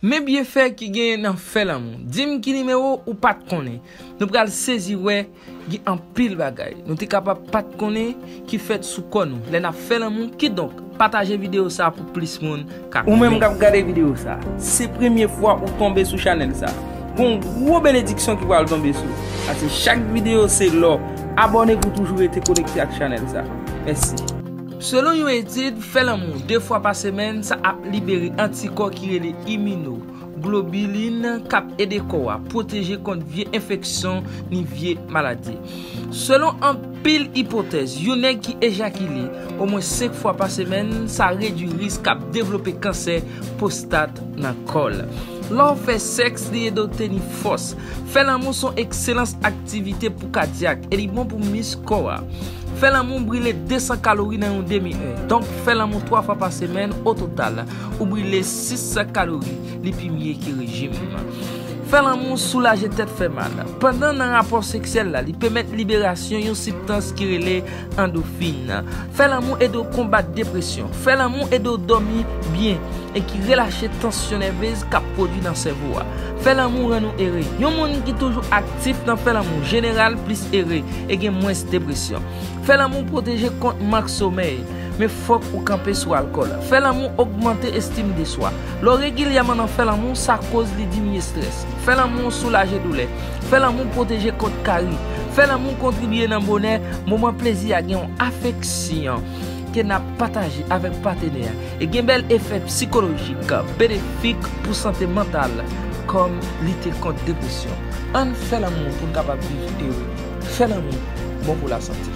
Men byenfè ki genyen nan fè lanmou. Dim ki nimewo ou pat konnen. Nou pral sezi wè gen anpil bagay nou te kapab pat konnen ki fèt sou kò nou lè nap fè lanmou kidonk pataje videyo sa pou plis moun ka konnen. Ou menm kap gade videyo sa, se premye fwa ou tonbe sou chanèl sa, gon gwo benediksyon ki pral tonbe sou ou. Pase chak videyo se lò, abòne pou toujou rete konekte ak chanèl sa. Mèsi. Selon yon etid, fè lanmou 2 fwa pa semèn sa ap libere antikò ki rele imino globilin k ap ede kò a pwoteje kont vye enfeksyon ni vye maladi. Selon anpil ipotèz, yon nèg ki ejakile omwen 5 fwa pa semèn sa redwi risk k ap devlope kansè pwostat nan kò l. Lè w fè sèks li ede w teni fòs, Fè lanmou son ekselans aktivite pou kadyak e li bon pou mis kò a. Fè lanmou brile 200 kalori nan yon demi è. Donk fè lanmou 3 fwa pa semèn o total ou brile 600 kalori, li pi mye ke rejim. Fè lanmou soulaje tèt fè mal. Pandan nan rapò seksyèl la li pèmèt liberasyon yon sibtans ki rele. Andofin. Fè lanmou ede w konbat depresyon. Fè lanmou ede w dòmi byen e ki relache tansyon nèvez k ap pwodwi nan sèvo a. Fè lanmou rann ou ere. Yon moun ki toujou aktif nan fè lanmou jeneral plis ere e gen mwens depresyon. Fè lanmou pwoteje kont mank somèy, men fòk ou kanpe sou alkòl. Fè lanmou ogmante estim de swa. Lè w regilyèman nan fè lanmou, sa koz li diminye strès. Fè lanmou soulaje doulè. Fè lanmou pwoteje kont kari. Fè lanmou kontribye nan bonè moman plezi a gen yon afeksyon ke n ap pataje avèk patenè a e gen bèl efè psikolojik benefik pou sante mantal kòm lite kont depresyon. Ann fè lanmou pou n kapab viv ere. Fè lanmou bon pou lasante.